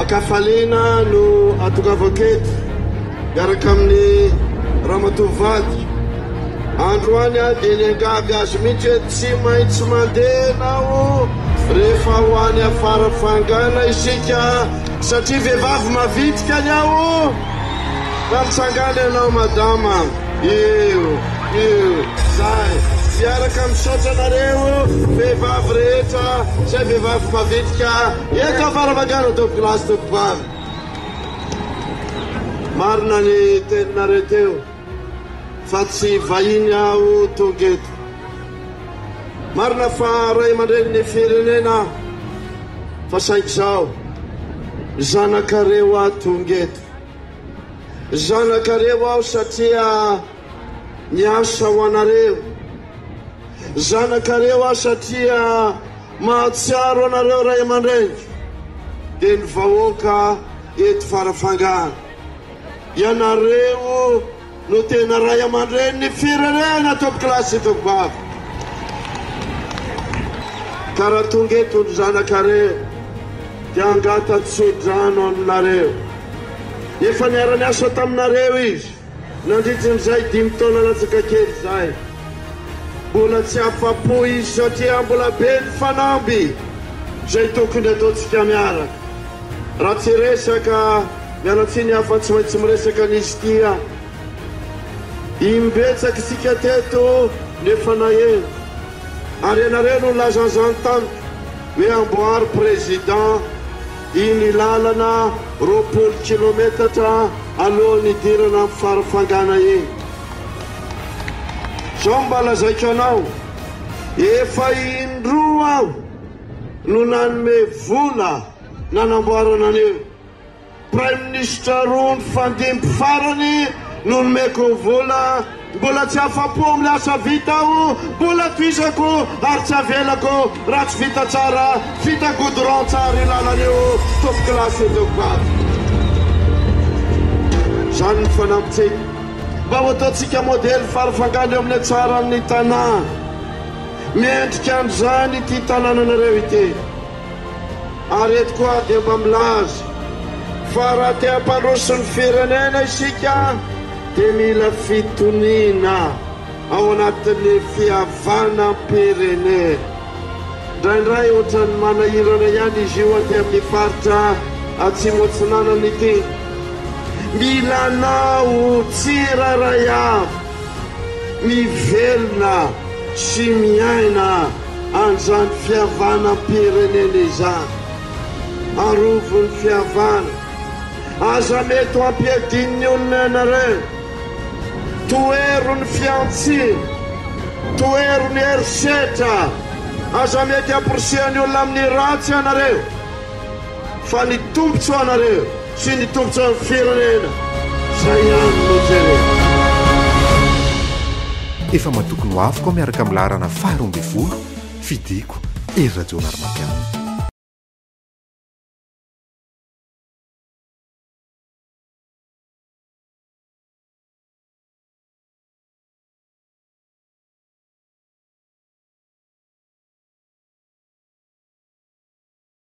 Ankafaliana no atongavako eto miaraka amin'ny ramatoa vady. Androany aho dia niangavy azy mihitsy hoe tsy maintsy mandeha ianao rehefa ho any afara fangana isika Satria vehivavy mavitrika ny ahy oh! Raha mitsangana ianao madama Io, io, zay Miaraka misaotra anareo vehivavy rehetra Zay vehivavy mavitrika Eto afara vagana dobo glace dobo vary Marina ny teninareo teo fa tsy vahiny aho tonga eto. Marina fa ray aman-drenin'ny firenena aho, fa saingy izao zanakareo aho tonga eto. Zanakareo aho satria miasa ho anareo. Zanakareo aho satria mahatsiaro anareo ray aman-dreniko, dia ny vahoaka eto Farafangana. Ianareo no tena ray aman-dreny ny firenena tompoko lahy sy tompoko vavy. Ka raha tonga eto ny zanakareo dia hangata tso-drano aminareo. Efa niara-niasa taminareo izy nandritrin'izay dimy taona latsaka kely izay. Mbola tsy afa-po izy satria mbola be ny fanamby izay tokony ataontsika miaraka. Raha tsy resaka. Miala tsiny aho fa tsy maintsy miresaka an'izy ity aho. Imbetsaka isika teto nefa naheno. Ary ianareo no nilaza an'izany tamiko hoe amboary Président iny lalana roapolo kilometatra alohan'ny hidirana amin'ny farafangana iny. Izao no mba lazaiko anao, efa indroa aho no nanome vola nanamboarana an'io. Praiminisitra roa nifandimby farany no nomeko vola. Mbola tsy afa-po amin'ny asa vita aho, mbola tohizako ary tsy avelako raha tsy vita tsara, vita goudron tsara io lalana io, top classe io teo Bary. Izany no fanampintsika mba ho ataontsika modely farafangana eo amin'ny hatsaran'ny tanà. Mendrika an'izany ity tanànanareo ity. Ary eto koa dia mba milaza fa raha te hampandroso ny firenena isika dia mila fitoniana ao anatin'ny fihavanam-pirenena. Indraindray ohatran'ny manahirana ihany izy io aty amin'ny faritra Atsimo Atsinanana ity. Mila anao tsirairay avy mivelona sy miaina. Andran'ny fihavanam-pirenena izany. Arovy ny fihavana. Aza mety ho ampiadian'ny olona ianareo. Tohero ny fihantsiana. Tohero ny herisetra. Aza mety hamporisihan'ny olona amin'ny ratsy ianareo. fa ny tombotsoanareo sy ny tombotsoan'ny firenena izay ihany no jerena. Efa matoky ny hoaviko aho miaraka amin'ny laharana faha roa ambin'ny folo, fidiko, Hery Rajaonarimampianina.